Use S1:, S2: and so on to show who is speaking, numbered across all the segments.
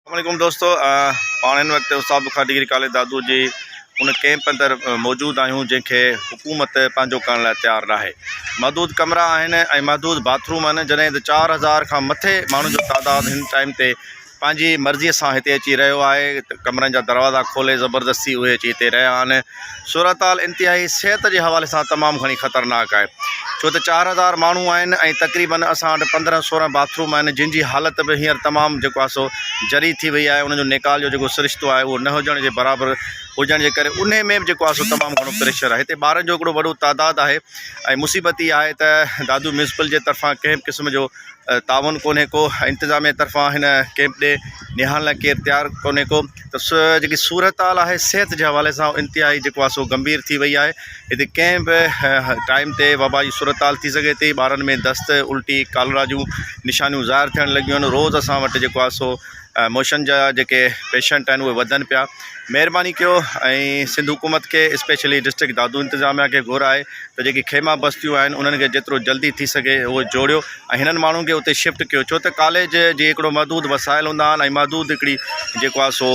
S1: السلام عليڪم دوستو پاڻ هن وقت استاد بخار ڊگري ڪاليج دادو جي ان ڪيمپ اندر موجود آهيون جنهن کي حڪومت پنهنجو ڪرڻ لاء تيار ناهي محدود ڪمرا آهن ۽ محدود باٿروم آهن جڏهن ته چار هزار کان مٿي ماڻهن جو تعداد هن ٽائيم تي پنهنجي مرضيء سان هتي اچي رهيو آهي ڪمرن جا دروازا کولي زبردستي اهي اچي هتي رهيا آهن صورتحال انتهائي صحت جي حوالي سان تمام گهڻي خطرناڪ آهي ڇو ته چار هزار ماڻهو آهن ۽ تقريبن اسان وٽ پندرهن سورهن باٿ روم آهن جن جي حالت به هينئر تمام جيڪو آهي سو جري ٿي وئي آهي انهن جو نيڪال جو جيڪو سرشتو آهي اهو نه هجڻ جي برابر هجڻ جي ڪري انهي ۾ به جيڪو آهي سو تمام گهڻو پريشر آهي هتي ٻارن جو هڪڙو وڏو تعداد آهي ۽ مصيبت هي آهي ته دادو ميونسپل جي طرفان ڪنهن به قسم جو تعاون ڪونهي ڪو انتظاميه طرفان هن ڪيمپ ڏي نهاڻ لاء ڪير تيار ڪونهي ڪو ته سو جيڪي صورتحال آهي صحت جي حوالي سان انتهائي جيڪو آهي سو گمڀير ٿي وئي آهي هتي ڪنهن به ٽائيم تي وبا جي صورتحال ٿي سگهي ٿي ٻارن ۾ دست الٽي ڪالرا جون نشانيون ظاهر ٿيڻ لڳيون آهن روز اسان وٽ جيڪو آهي سو موشن جا جيڪي پيشنٽ آهن اهي وڌن پيا مهرباني ڪيو ۽ سنڌ حڪومت کي اسپيشلي ڊسٽرڪٽ دادو انتظاميا کي گهر آهي ته جيڪي خيما بستيون آهن انهن کي جيترو جلدي ٿي سگهي اهو جوڙيو ۽ هنن ماڻهن کي اتي شفٽ ڪيو ڇو ته ڪاليج جي هڪڙو محدود وسائل هوندا آهن ۽ محدود هڪڙي جيڪو آهي سو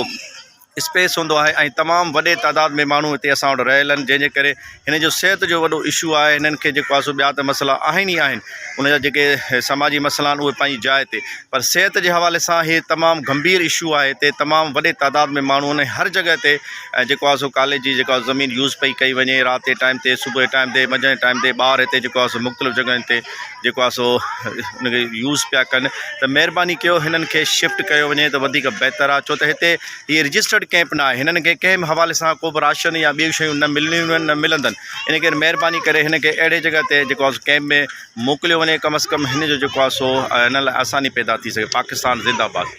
S1: اسپيس هوندو آهي ۽ تمام وڏي تعداد ۾ ماڻهو هتي اسان وٽ رهيل آهن جنهن جي ڪري هنن جو صحت جو وڏو اشو آهي هنن کي جيڪو آهي سو ٻيا ته مسئلا آهن ئي آهن ان جا جيڪي سماجي مسئلا آهن اهي پنهنجي جاء تي پر صحت جي حوالي سان هي تمام گنڀير اشو آهي هتي تمام وڏي تعداد ۾ ماڻهو آهن ۽ هر جڳهه تي ۽ جيڪو آهي سو ڪاليج جي جيڪو آهي زمين يوز پئي ڪئي وڃي رات جي ٽائيم تي صبح جي ٽائيم تي منجهند جي ٽائيم تي ٻار هتي جيڪو آهي سو مختلف جڳهين تي جيڪو آهي سو ان کي يوز پيا ڪن ته مهرباني ڪيو هنن کي شفٽ ڪيو وڃي ته وڌيڪ بهتر آهي ڇو ته هتي هي رجسٽرڊ ڪئمپ ناهي هنن کي ڪنهن به حوالي سان ڪو به راشن يا ٻيون شيون نه ملنيون آهن نه ملندن ان ڪري مهرباني ڪري هن کي اهڙي جڳهه تي جيڪو آهي ڪئمپ ۾ موڪليو وڃي ڪم از ڪم هن جو جيڪو آهي سو هن لاء آساني پيدا ٿي سگهي پاڪستان زنده باد